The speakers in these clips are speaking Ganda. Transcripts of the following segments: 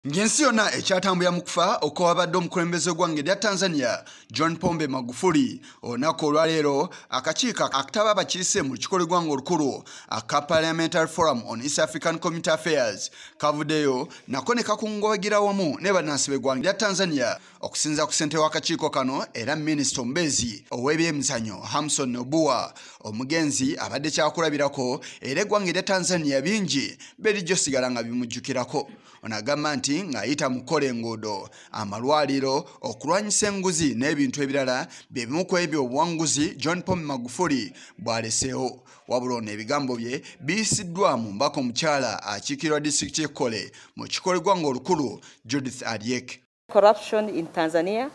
Ng'ensi yonna ekyatambulira mu kufa okwabadde omukulembeze gw'eggwanga erya Tanzania John Pombe Magufuli olunaku olwaleero akakiiko akataba abakiise mu lukiiko lw'eggwanga olukulu aka Parliamentary Forum on East African Community Affairs kavuddeyo nako ne kakungubagira wamu ne bannansi b'eggwanga erya Tanzania okusinza ku ssentebe w'akakiiko kano era minisita omubeezi ow'ebyemizanyo Hamson Nobuwa omugenzi abadde kyakulabirako era eggwanga erya Tanzania bingi berijo sigala nga bimujjukirako. ono agamba nti ng'ayita mu kukola enguudo amalwaliro okulwanyisa enguzi n'ebintu ebirala bye bimu ku ebyo obuwanguzi john pom magufuli bw'aleseewo wabula ono ebigambo bye biyisiddwa mu mbaka omukyala akiikirwa disitulikiti ekkole mu kikolebwa ng'olukulu judith aryek Corruption in Tanzania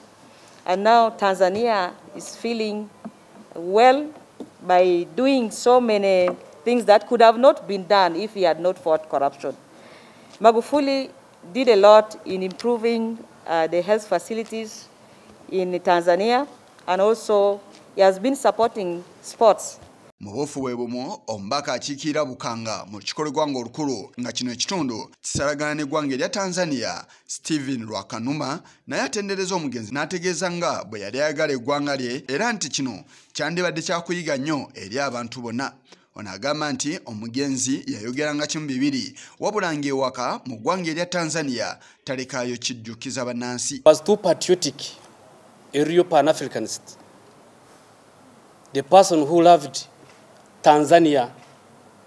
and now Tanzania is feeling well by doing so many things that could have not been done if he had not fought corruption. Magufuli did a lot in improving uh, the health facilities in Tanzania and also he has been supporting sports. mu buufu bwe bumu omubaka akiikirira bukanga mu kikolo gwanga olukulu nga kino ekitundu kisalagana ne gwanga erya tanzania Steven Lwakanuma naye atendereza omugenzi n'ategeeza nga bwe yali ayagala eggwanga lye era nti kino kyandibadde kyakuyiga nnyo eri abantu bonna ono agamba nti omugenzi yayogeranga kimu bibiri wabula ng'ewaka mu ggwanga erya tanzania talekaayo kijjukiza bannansi The person who loved Tanzania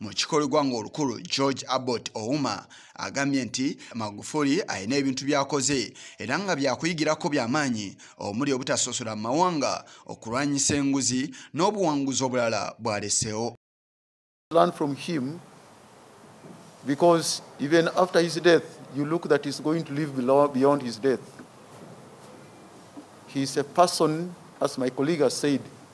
mu kikolebwa ng'olukulu george abbot ouma agambye nti magufuli alina ebintu byakoze era nga byakuyigirako byamaanyi omuli obutasosola mu mawanga okulwanyisa enguzi n'obuwanguzi obulala bwalesewo because even after his death you look that he's going to live below, beyond his death he's a person as my colleague has said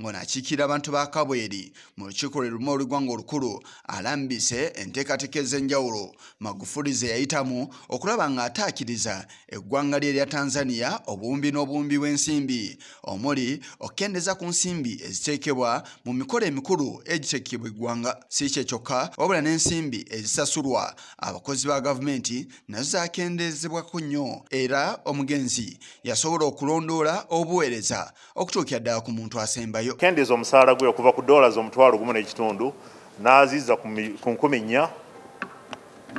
ng'ono akiikirira abantu ba kabweri mu lukiiko lwe lumu olw'eggwanga olukulu alambise enteekateeka ez'enjawulo magufuli ze yayitamu okulaba ng'ataakiriza eggwanga lye erya tanzania obuwumbi n'obuwumbi bw'ensimbi omuli okukendeeza ku nsimbi eziteekebwa mu mikolo emikulu egiteekebwa eggwanga si kye kyokka wabula n'ensimbi ezisasulwa abakozi ba gavumenti nazo zaakendeezebwako nnyo era omugenzi yasobola okulondoola obuweereza okutuukira ddala ku muntu asembayo kendeeza omusaala gwe okuva ku dollars omutwalo gumu n'ekitundu n'aziza ku nkumi nnya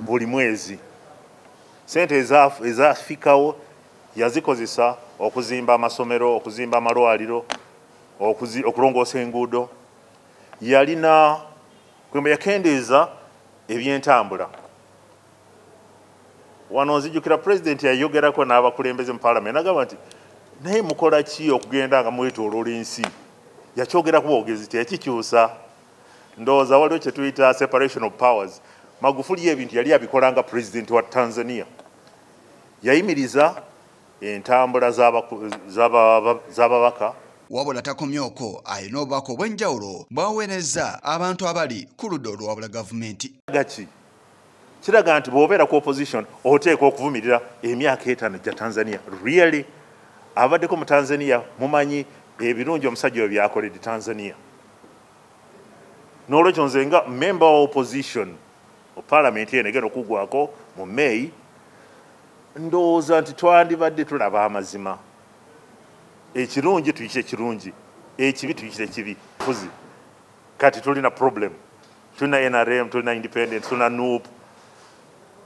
buli mwezi sente ezafikawo yazikozesa okuzimba amasomero okuzimba amalwaliro okulongoosa enguudo yalina kwemba yakendeeza ebyentambula Wano nzijukira president yayogerako n'abakulembeze mu parliament nagamba nti naye mukola ki okugenda nga mwetoloola ensi yakyogera ku bogezi teyakikyusa ndowooza waliwo kyetuyita separation of powers magufuli ebintu yali abikola nga president wa tanzania yayimiriza entambula z'ababaka wabula takomye okwo alina obubaka obw'enjawulo bwaweereza abantu abali ku ludda oluwabula gavumenti gaki kiraga nti bwobeera ku opposition oteekwa okuvumirira emyaka etaano gya tanzania really abaddeko mu tanzania mumanyi ebirungi omusajja oyo byakoledde tanzania n'olwekyo nze nga member wa opposition mu palamenti eno egenda okugwako mu may ndowooza nti twandibadde tulaba amazima ekirungi tuyite ekirungi ekibi tuyite ekibi fuzi kati tulina problem tulina nrm tulina independent tulina nup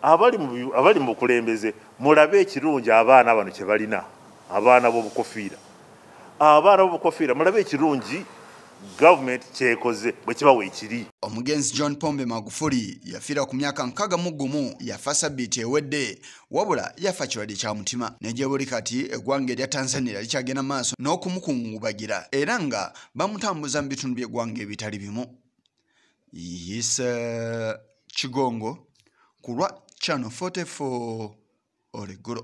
abali mu bukulembeze mulabe ekirungi abaana bano kyebalina abaana bobukofiira abaana bobukofiira mulabe ekirungi gavumenti kyekoze bwekibawa ekiri omugenzi john pombe magufuli yafiira ku myaka nkaga mu gumu yafa sabbiiti ewedde wabula yafa kirwadde kya mutima negyebuli kati eggwanga erya tanzania likyagenda maaso n'okumukungubagira era nga bamutambuza mu bitundu by'eggwanga ebitali bimu yise kigongo ku lwa channel 44 oleggulo